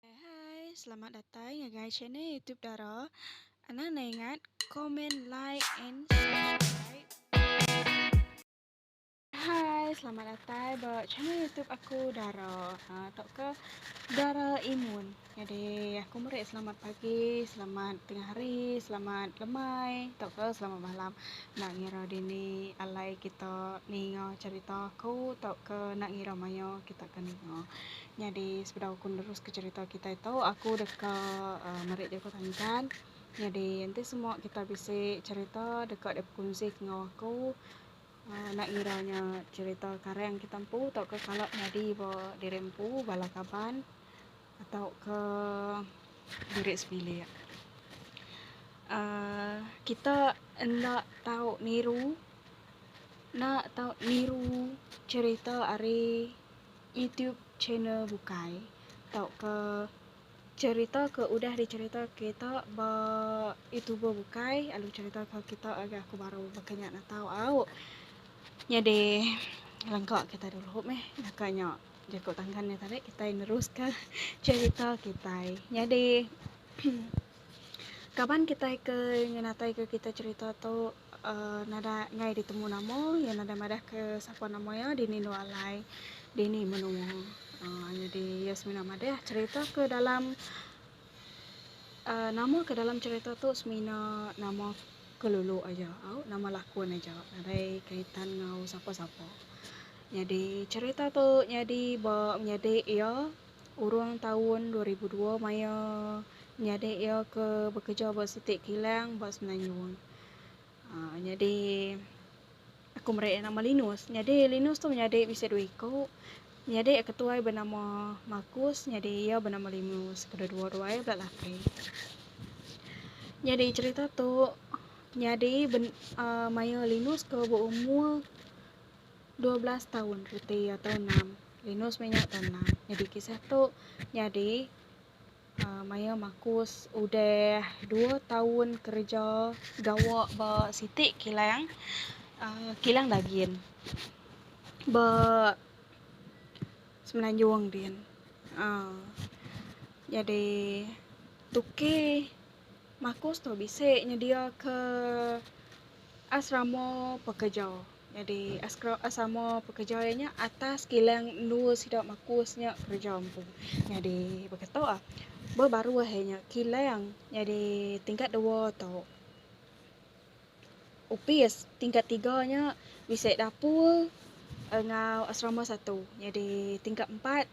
Hai hai selamat datai ngagai channel YouTube Dara anang nai ingat comment like and subscribe Hai selamat datai ba channel YouTube aku Dara ha tok ke Dara Imun jadi aku meri selamat pagi selamat tengah hari selamat lemai tok ke selamat malam Enda ngira dini alai kita ninga cherita aku tauka enda ngira mayuh kita ke ninga. Nyadi sebedau aku neruska cherita kitai tu aku deka aaa meri jaku tantan. Nyadi enti semua kita bisi cherita deka dep kunsi ke enggau aku aaa enda ngira nya cherita karang kita empu tauka kala nyadi ba diri empu bala kaban. Tauka diri sebilik. Aaa kita enda tau niru enda tau niru cerita ari YouTube channel bukai tauka cerita ke udah dicerita kita ba YouTuber bukai lalu cerita ke kita agi aku baru baka nya natau au. Nyadi langka kita dulu meh baka nya. Jaku tangan nya tadi kitai neruska cherita kitai. Nyadi kaban kitai ke ngenatai ke kitai cherita tu uhh nadai ngai ditemu nama iya nadai madah ke sapa nama iya dini endo alai dini menoa uhh nyadi iya semina madah cherita ke dalam. Nama ke dalam cerita tu semina nama kelulu aja au nama lakun aja nadai kaitan enggau sapa sapa. Nyadi cerita tu nyadi ba menyadi iya urung taun dua ribu dua maya menyadi iya ke bekeja ba siti kilang ba semenanjung. Haa nyadi aku meri iya nama Linus. Nyadi Linus tu menyadi bisi dua iku. Nyadi iya ketuai benama Markus nyadi iya benama Linus. Kedua-dua ruai bela laki. Nyadi cerita tu nyadi ben, uh, maya Linus ke beumur 12 taun reti iya taun 6. Linus meh nya taun 6. Nyadi kisah tu nyadi Maya Markus udah dua taun kereja gawa ba siti kilang kilang dagin ba Semenanjung din. Nyadi tuki Markus tu bisi nyediaka Asrama pekeja. Nyadi asrama pekeja iya nya atas kilang endur sida makus nya kereja empu. Nyadi baka tu ah ba baruh iya nya kilang nyadi tingkat dua tu opis tingkat tiga nya bisi dapur enggau asrama satu. Nyadi tingkat empat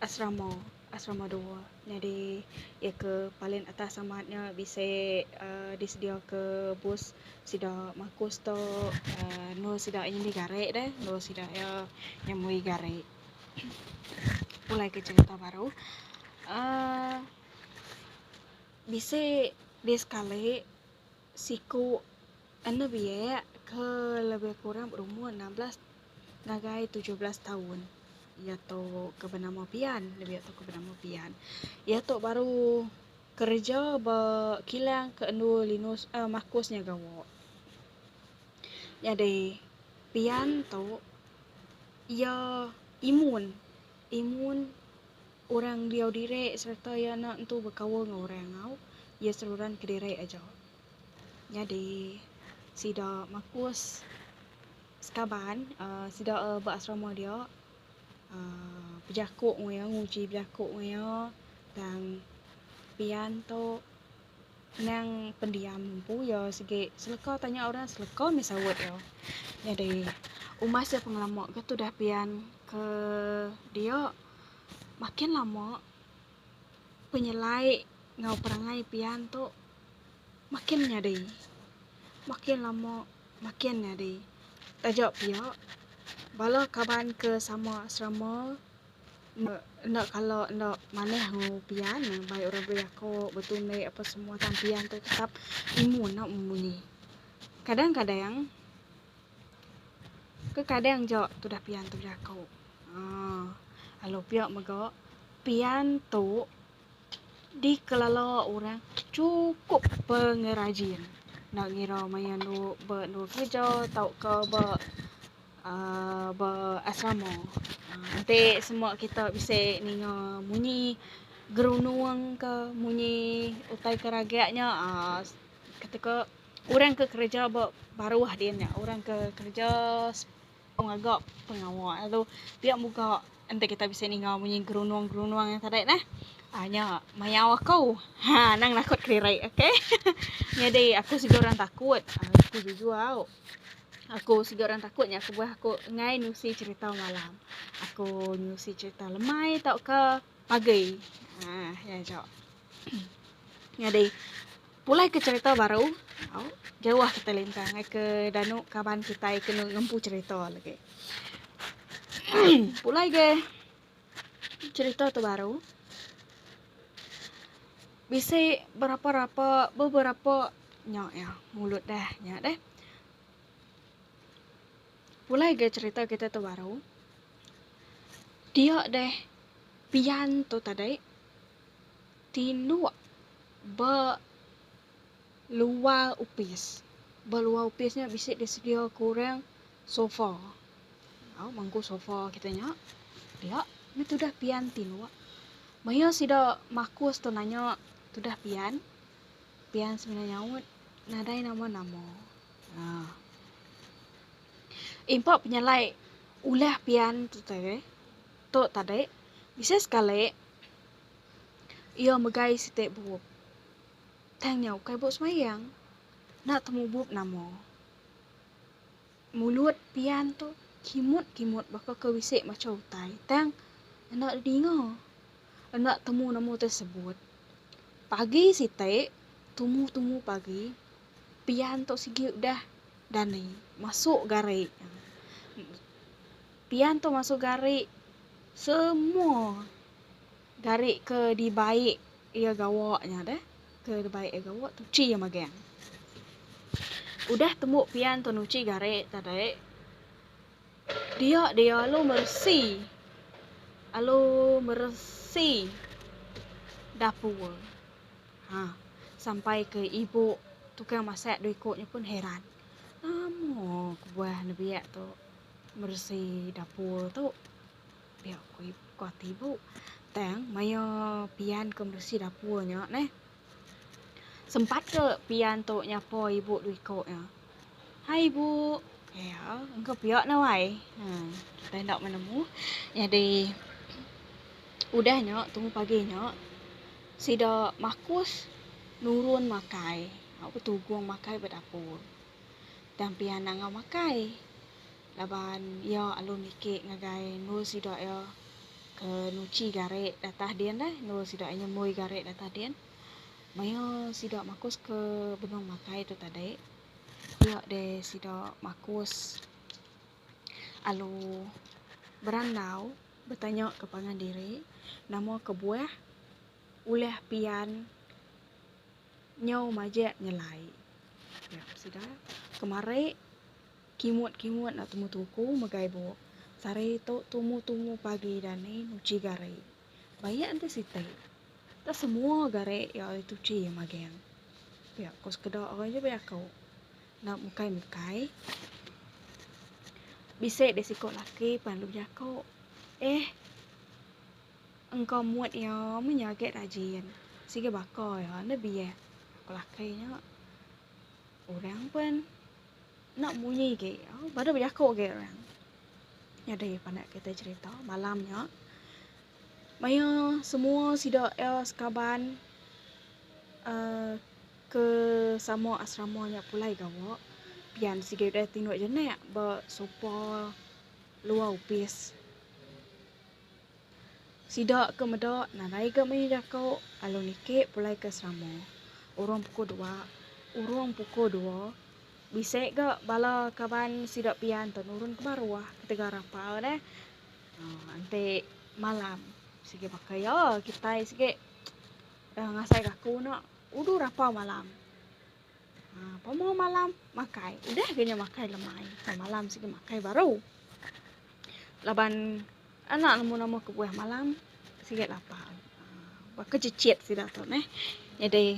Asrama, Asrama Dua, nyadi iya ke paling atas amat nya bisi uhh disediaka bus sida makus tu uhh endur sida aja indi gari deh, endur sida aja ngemui gari. Pulai ke cherita baru uhh bisi di sekali. Siku anu biak ke lebih kurang berumur enam belas ngagai tujuh belas taun iya tu ke benama Pian lebih iya tu ke benama Pian iya tu baru kereja ba kilang ke anu Linus eh Marcus nya gawa. Nyadi Pian tu iya imun imun Orang diau diri sereta iya enda entu bekaul enggau orang enggau iya seruran kediri aja. Nyadi sida makus sekaban uhh sida uhh ba asrama dia uhh bejaku enggau iya nguji bejaku enggau iya tang pian tu nang pendiam empu iya sigi seleka tanya orang seleka mih saut iya. Nyadi umas iya pengelama ke tudah pian ke dia. Makin lama, penyelai enggau perangai pian tu makin nyadi. Makin lama, makin nyadi. Taja pia, bala kaban ke sama asrama enda kala enda manah enggau pian, bai orang bejaku, betunik apa semua tang pian tu tetap imun, enda memunyi. Kadang-kadang. Kekadang ja tudah pian tu jaku. Aaa lalu pia mega pian tu dikelala orang chukup pengerajin enda ngira maya anu ba anu kereja tauka ba aaa ba asrama. Enti semua kita bisi ninga munyi gerunung ka munyi utai ke ragak nya aaa ketu ka Orang ke kereja ba baruh din nya orang ke kereja pengaga pengawa lalu pia muka enti kita bisi ninga munyi gerunung-gerunung nya tadi neh aaa nya mayau aku ha nang nakut kediri okay nyadi aku siga orang takut aku jujur au aku siga orang takut nya kebuah aku enggai nusi cherita malam aku nusi cherita lemai tauka pagi ha nya aja nyadi. Pulai ke cherita baru, au, jauh kitai lintang ngai ke danu kaban kitai ke ngempu cherita legi. Pulai ge cherita tu baru, bisi berapa-rapa, beberapa nya iya mulut deh nya deh. Pulai ge cherita kitai tu baru, dia deh pian tu tadi. Tiluk ba luar opis. Ba luar opis nya bisi disedia ku orang sofa. Au mangku sofa kita nya. Dia meh tudah pian tiluk. Maya sida makus tu nanya tudah pian. Pian semina nyaut, nadai nama-nama. Nah. Impa penyalai ulah pian tu tadi. Tu tadi. Bisi sekali. Iya megai siti bup. Tang nya ukai bup semayang. Enda temu bup nama. Mulut Pian tu kimut-kimut baka ke bisi macha utai tang enda didinga. Enda temu nama ti sebut. Pagi siti, tumu-tumu pagi, Pian tu sigi udah dani masuk gari. Pian tu masuk gari semua. Gari ke dibaik iya gawa nya deh. Ke dibaik iya gawa tu uchi iya magang. Udah tembu pian tuan uchi gari tadi dia dia alu meresi alu meresi dapur. Ha sampai ke ibu tukang masak dua iku nya pun heran. Lama kebuah nebiak tu meresi dapur tu. Pia ku iku ati ibu. Tang maya pian ke meresi dapur nya neh. Sempat ke pian tu nyapa ibu dua iko nya. Hai ibu. Ya, engka pia nah wai. Ha, kita enda menemu. Nyadi udah nya tumu pagi nya sida makus nurun makai. Au betugung makai ba dapur. Tang pian nangau makai. laban iya alu niki ngagai endur sida iya ke nuchi gari datah din deh endur sida iya nyemui gari datah din maioh sida makus ke benung makai tu tadi pia deh sida makus alu berandau betanya ke pangan diri nama kebuah ulih pian nyau majek nyelai pia sida kemari. Kimut kimut enda tumu tuku megai buk sari tu tumu tumu pagi dani nuchi gari. Bayak enti siti. Enda semua gari iya ulih tuchi iya maging. Pia ko sekeda orang nya beri aku. Enda mukai mukai. Bisi deh siko laki pan dulu jako. Eh engka mut iya meh nya agi rajin. Sigi baka iya enda biak ko laki nya. Orang pan. Enda munyi agi. Baru bejaku agi orang. Nyadi pandak kita cerita malam nya. Maya semua sida iya sekaban uh, ke sama asrama nya pulai gawa, pian sigi udah tinduk jenak ba sopa luar opis. Sida ke meda nadai ga mayuh jako alu niki pulai ke selama urung puku dua urung puku dua bisi ga bala kaban sida pia ento nurun ke baruh ketegal rapau neh aaa enti malam sigi baka iya kitai sigi ngasai ga aku eno udu rapau malam. Ha, pemua malam makai. Udah ke nya makai lemai. Pemua malam sigi makai baru. Laban anak lemu-lemu kebuah malam sigi lapar. Ha, baka cicit sida tu neh. Jadi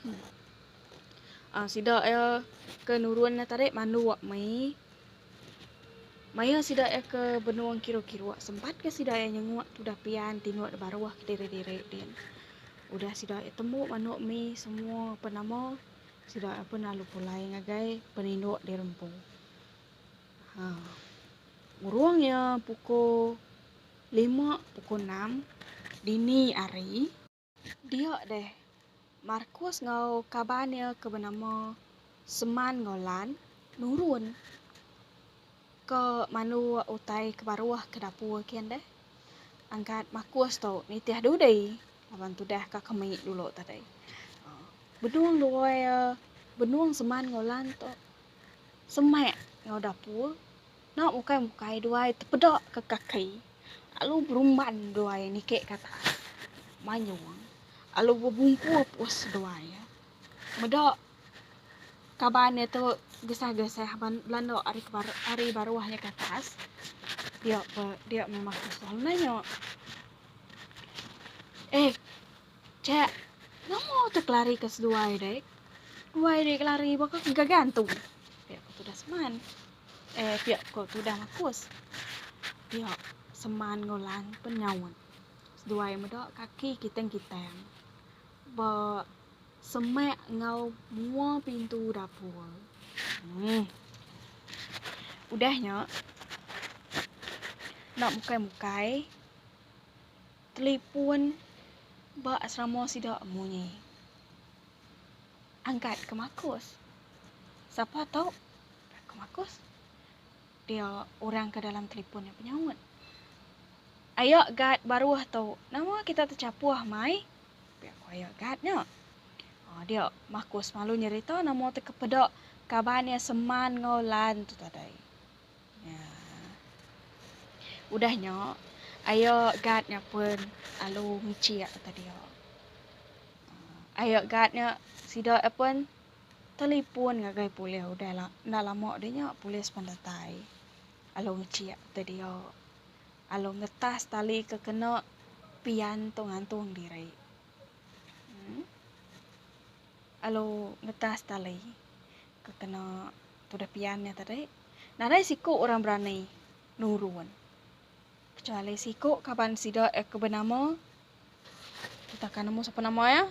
hmm. Ah, sida ya ke nurun tadi manduk mai Maya sida iya ke benung kiru-kiru, sempat ke sida iya nyenguk tudah pian tinduk da baruh ke diri-diri din. Udah sida iya tembu manuk mi semua apan nama, sida iya pun lalu pulai ngagai peninduk di rempu. Haa. Urung iya pukul lima, pukul enam dini hari. Dia deh, Markus enggau kaban iya ke benama Seman enggau Lan nurun ke mandu utai ke baruh ke dapur kin deh. Angkat Markus tu nitih dudi laban tudah ka kemi dulu tadi. Benung dua iya, benung Seman enggau Lan tu semak enggau dapur Enda bukai mukai duai tepeda ke kaki lalu berumban duai niki ke atas manyung lalu bebumpu pus duai meda kaban iya tu gesah gesah belanda ari baruh nya ke atas dia pe dia memang susah nanya eh chek nama tu ke lari ke seduai dek duai dek lari baka ke gagantung dia ke tudah seman. Eh pia ko tudah makus. Pia seman enggau lan pen nyaut. Seduai meda kaki kiteng kiteng ba semak enggau mua pintu dapur. Hmm. Udah nya enda mukai mukai telipun ba asrama sida munyi. Angkat ke makus. Sapa tu? Dak ke Markus. Dia orang ke dalam telipon nya penyaut. Aya guard baruh tu. Nama kita techapuh mai? Pia ku aya guard nya. Ah, dia, Markus malu nyerita nama teka peda kaban iya seman enggau Lan tu tadai. Ya. Udah nya, aya guard nya pun lalu ngichik ke dia. Ah, aya guard nya sida pun Telipon ngagai polis udah la enda lama deh nya polis pen datai lalu ngechek te dia lalu ngetas tali ke kena pian tu ngantung diri uhh lalu ngetas tali ke kena tudah pian nya tadi nadai siku orang berani nurun kecuali siku kaban sida ke benama Kita akan nemu siapa nama ya.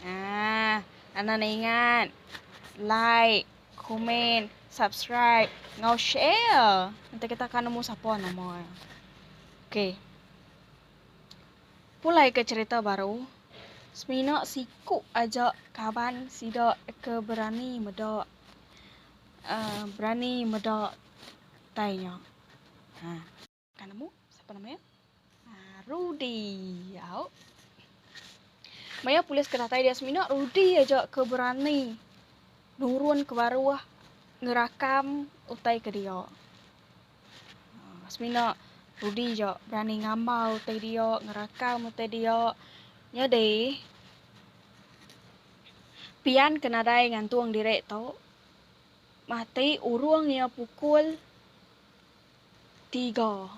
Ah, Ana nak ingat. Like, komen, subscribe, ngau share. Nanti kita akan nemu siapa nama ya. Okey. Pulai ke cerita baru. Semina siku aja kaban sida ke berani meda. Uh, berani meda tainya. Ha. Ka nemu siapa nama iya? Ah, Rudy. Au. Maya polis ke datai dia semina, Rudy aja ke berani nurun ke baruh ngerakam utai ke dia. Ah, semina Rudy aja berani ngambau utai dia, ngerakam utai dia. Nyadi pian ke nadai ngantung diri tu mati urung iya pukul Tiga.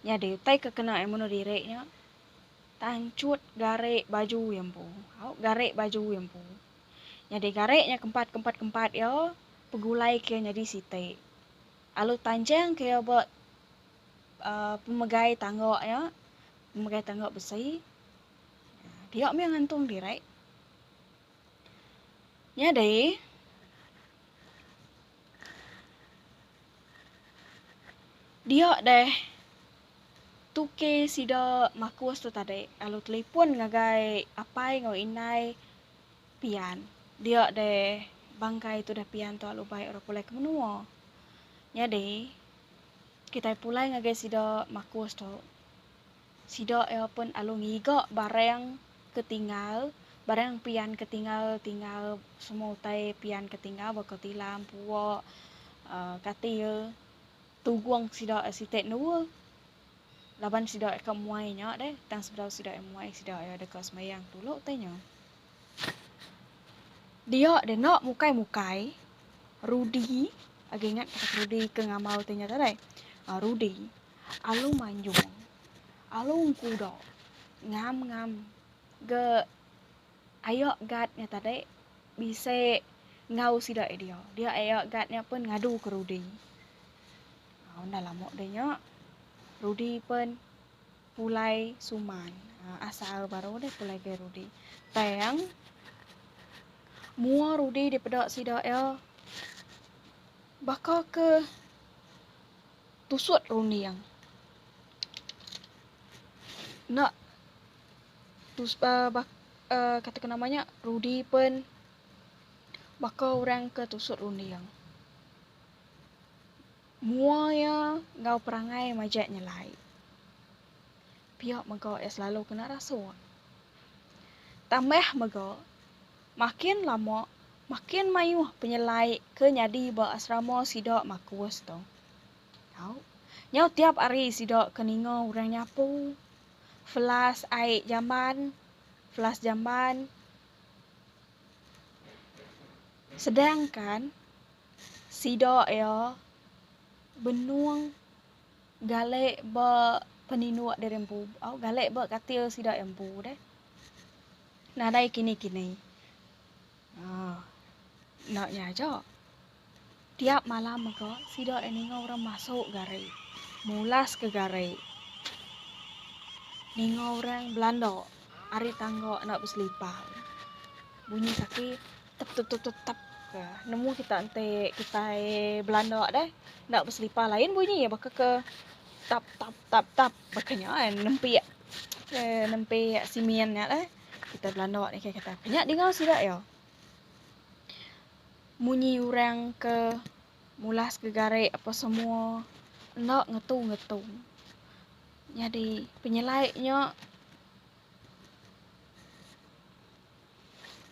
Nya deh utai ke kena iya meno diri nya. Tanchut gare baju iya empu. Au gare baju iya empu. Nya deh gare nya kempat kempat kempat iya pegulai ke iya nyadi siti. Alu tanjang ke iya ba Uh, pemegai tangga nya pemegai tangga besi dia mih ngantung diri Nyadi, dia deh tuke sida makus tu tadi lalu telipon ngagai apai enggau indai pian. Dia deh bangkai tudah pian tu lalu bai orang pulai ke menua. Nyadi, kitai pulai ngagai sida makus tu. Sida iya pun alu ngiga barang ke tinggal, barang pian ke tinggal tinggal semua utai pian ke tinggal baka tilam, pua, aaa katil, tugung sida iya siti endua laban sida iya ka muai nya deh tang sebedau sida iya muai sida iya deka sembayang dulu utai nya. Dia deh enda mukai mukai Rudi agi ingat Rudi ke ngambau utai nya tadi? Rudi. Alu manjung. Alu engkudo. Ngam ngam. Ge ayo gat nya tadi bisi enggau sida eh dia. Dia ayo gat nya pun ngadu ke Rudi. Ha unda lama deh nya Rudi pun pulai suman. Ha asal baru deh pulai ke Rudi. Tang mua Rudi dipeda sida iya baka ke Tusut runding. Enda tus uh, bak, uh, kata kena nama nya Rudi pen baka orang ke tusut runding. Mua iya enggau perangai majak nyelai. Pia mega iya selalu kena rasuk. Tambah mega Makin lama, makin mayuh penyelai ke nyadi ba asrama sida Markus tu. Tau, nyau tiap hari sida ke ninga orang nyapu, flash ai jamban, flash jamban. Sedangkan sida iya benung galek ba peninduk diri empu, au galek ba katil sida iya empu deh. Nadai kini-kini. Aaa. Enda nya aja. Tiap malam mega sida ai ninga orang masuk gari. Mulas ke gari. Ninga orang belanda ari tangga enda beselipar. Bunyi kaki tep-tep-tep-tep-tep ke. Nemu kita enti kitai belanda deh enda beselipar lain bunyi iya baka ke tap-tap-tap-tap. Baka nya eh, nempik eh, nempik simin nya lah. Kita belanda ni kaya kata, kena dengar sida ya. Munyi orang ke mulas ke garik apa semua enda ngetu-ngetu. Jadi penyelai nya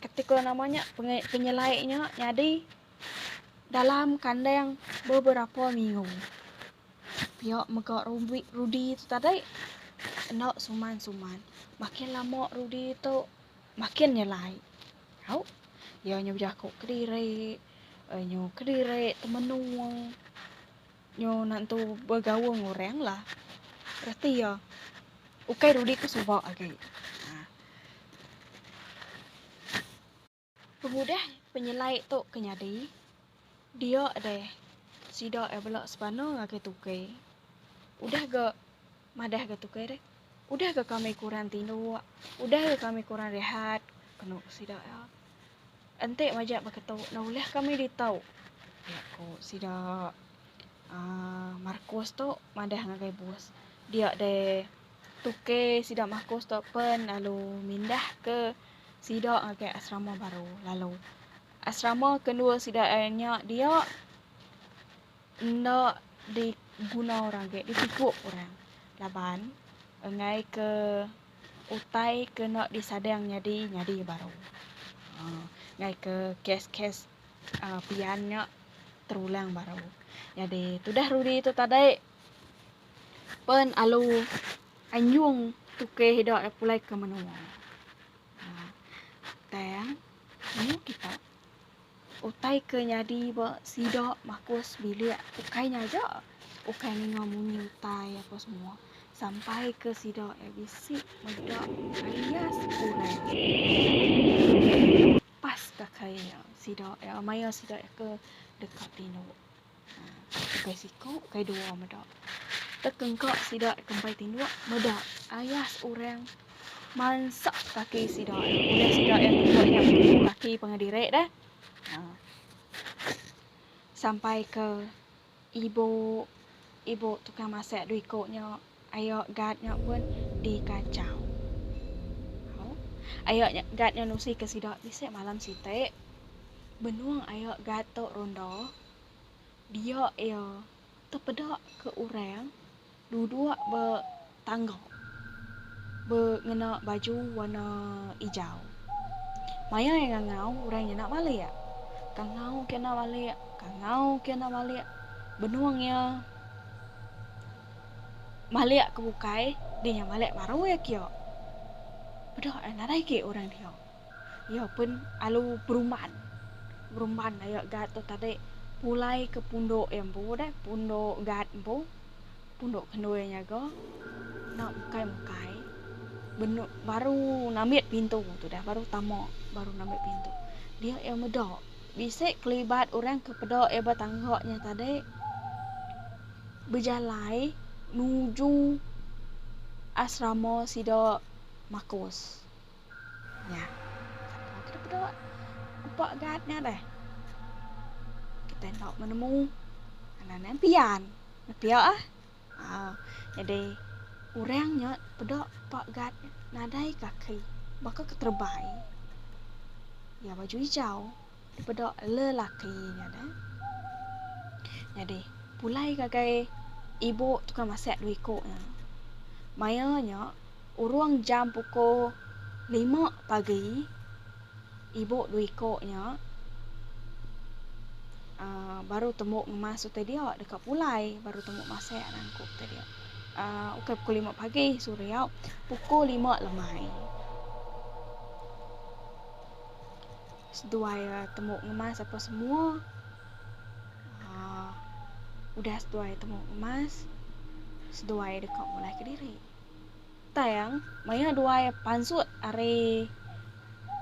Kati ko nama nya penyelai nya nyadi dalam kandang beberapa minggu. Pia mega Rudi tu tadi enda suman-suman. Makin lama Rudi tu makin nyelai. Au. Iya nyu bejaku kediri, nyu kediri temenung. Nyu nentu begaul enggau orang lah. Reti iya. Ukai dudi ke suba agi. Pengudah penyelai tu ke nyadi, dia deh sida iya bela sebana ngagai tukai. Udah ga. Madah ga tukai deh. Udah ga kami kurang tinduk. Udah ga kami kurang rehat. Kenu ku sida iya. Enti majak beketu enda ulih kami ditau. Iya ku sida. Aaa Markus tu madah ngagai bos. Dia deh tukai sida Markus tu pen lalu mindah ke sida ngagai asrama baru lalu. Asrama kendua sida iya nya dia. enda diguna orang agi ditipu orang laban enggai ke utai ke enda disadang nyadi nyadi baru aaa enggai ke kes-kes aaa pian nya terulang baru nyadi tudah rudi tu tadai pen alu anyung tukeh ida pulai ke menua aaa tang menua kita. Utai ke nyadi ba sida makus bilik ukai nya aja, ukai ninga munyi utai apa semua sampai ke sida iya bisi meda ayas orang pas ka kai iya sida iya maya sida iya ke deka tinu. Ukai siku, ukai dua meda. Tekengka sida kempai tinduk meda ayas orang mansak kaki sida. Orang sida yang tinduk nya mengulu kaki pengah diri dah. Ha. Sampai ke ibu ibu tukang masak dua iku nya Ayo Gad nya pun dikachau. Au. Ayo Gad nya nusi ke sida bisi malam siti. Benung ayo Gad tu ronda, dia iya tepeda ke orang duduk ba tangga be ngena baju warna ijau. Maya iya ngangau orang nya enda balik. Kangau ke enda balik, kangau ke enda balik. Benung iya. Malik ke bukai di nya malik baru iya kia. Peda ai nadai agi orang dia. Iya pun alu berumban. Berumban aya guard tu tadi pulai ke pundok iya empu deh, pundok guard empu. Pundok kendu iya nyaga. Enda mukai-mukai. Benu baru nambit pintu tu deh, baru tama, baru nambit pintu. Dia iya meda bisi kelibat orang ke peda iya ba tangga nya tadi. Bejalai nuju asrama sida Marcos. Nya. Sapa ke dipeda upa gat nya deh. Kitai enda menemu. Anak nya pian. Nepia ah. Au. Nyadi orang nya peda upa gat nadai kaki. Baka keterebai. Iya baju ijau. Dipedok lelaki nya ne. Nyadi, pulai ngagai ibu tukang masak dua iku nya. Maya nya, urung jam pukul lima pagi, ibu dua iku nya uh, baru tembu ngemas utai dia deka pulai baru tembu masak nangku utai dia. Uh, ukai pukul lima pagi, suriau, pukul lima lemai. seduai temu ngemas apa semua aaa udah seduai temu ngemas seduai deka mulai kediri. Tang maya duai pansut ari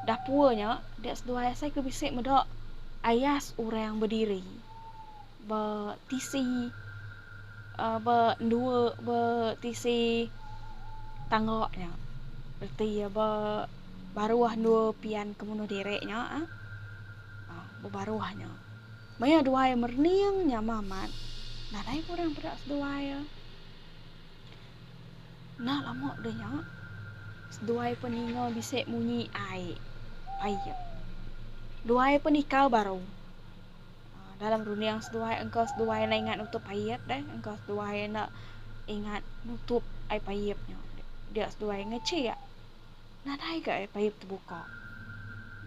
dapur nya dia seduai asai ke bisi meda ayas orang bediri. be tisi be endua be tisi tangga nya reti iya be baruh endua pian ke munuh diri nya ah be baruh nya maya duai merening nya meh amat nadai pun orang peda seduai iya enda lama deh nya seduai pun ninga bisi munyi ai duai pun ikau baru. Dalam runding seduai engka seduai enda ingat nutup paip deh. Engka seduai enda ingat nutup ai paip nya. Dia seduai ngechik. Nadai ga ai paip tebuka.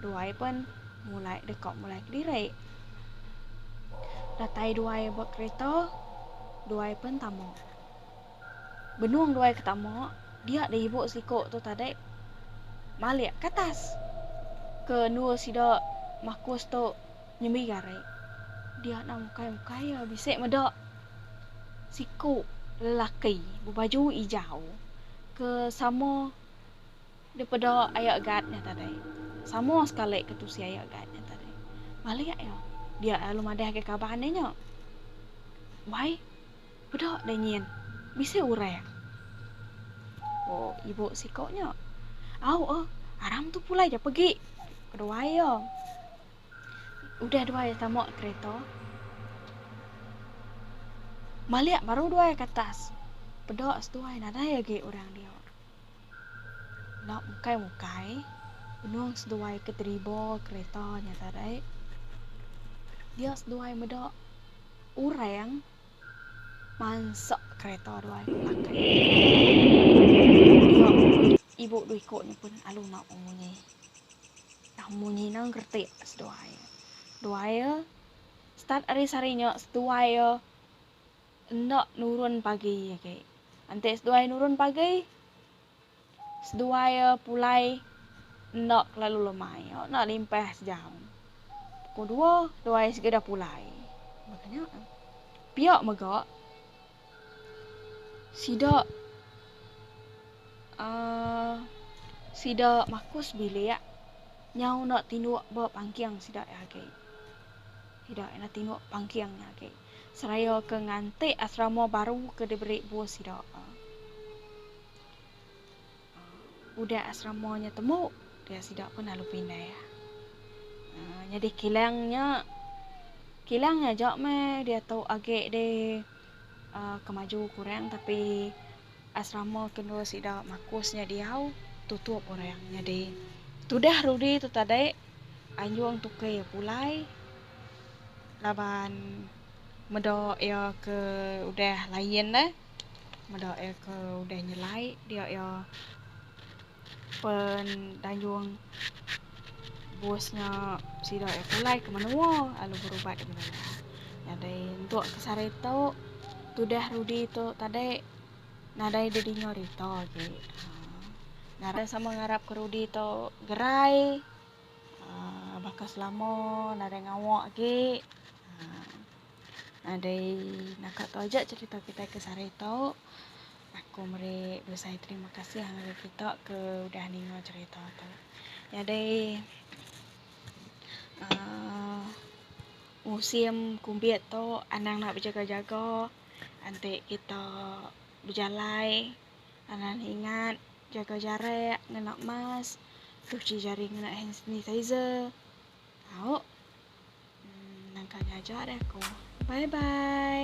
Duai pun mulai deka mulai kediri. Datai duai ba kereta. Duai pun tama. Benung duai ke tama, dia da ibu siko tu tadi malik ke atas. Ke endur sida makus tu Nyembi gari. Dia enda mukai-mukai iya bisi meda siku lelaki bebaju ijau ke sama daripada aya guard nya tadi. Sama sekali ke tusi aya guard nya tadi. Balik iya. Dia lalu madahka kaban iya nya. Wai, peda deh nyin. Bisi orang. Ku ibu siku nya. Au eh, aram tu pulai ja pegi. Keduai iya. Udah duai tamuk kereta. Malik baru duai ke atas. Peda seduai nadai agi orang dia. Enda mukai-mukai. Benung seduai ke deriba kereta nya tadi. Dia seduai meda orang mansa kereta duai ke belakang. Dia ibu dua iku ni pun alu mauk munyi. Munyi enda ngerti seduai. Duai iya start ari sehari nya seduai iya enda nurun pagi agi. Enti seduai nurun pagi seduai iya pulai enda kelalu lemai iya enda limpah sejam. Pukul dua duai iya segera pulai. Pia mega Sida aaa sida makus bilik nyau enda tinduk ba pangking sida iya agi. Sida enda tinduk pangking iya agi seraya ke nganti asrama baru ke diberi bos sida. Udah asrama nya temu, dia sida pun lalu pindah. Nyadi kilang nya, kilang nya aja meh diatu agi deh ke maju kurang tapi asrama ke endur sida makus nya diau tutup orang. Nyadi tudah rudi tu tadi anjung tuki iya pulai laban meda iya ke udah lain deh. meda iya ke udah nyelai dia iya pen danjung bos nya sida iya pulai ke menua lalu berubat ke menua. Nyadai entu ke sehari tu tudah Rudi tu tadi nadai deh dinga rita agi. Nadai sama ngarap ke Rudi tu gerai aaa baka selama nadai ngawa agi aaa. Nadai naka tu aja cerita kitai ke sehari tu. Aku meri besai terima kasih ngagai kita ke udah ninga cerita tu. Nyadi aaa musim kumbit tu anang enda bejaga-jaga enti kita bejalai anang ne ingat jaga jarak ngena mask, cuci jari ngena hand sanitizer. Au. Nang kali aja deh aku. Bye bye.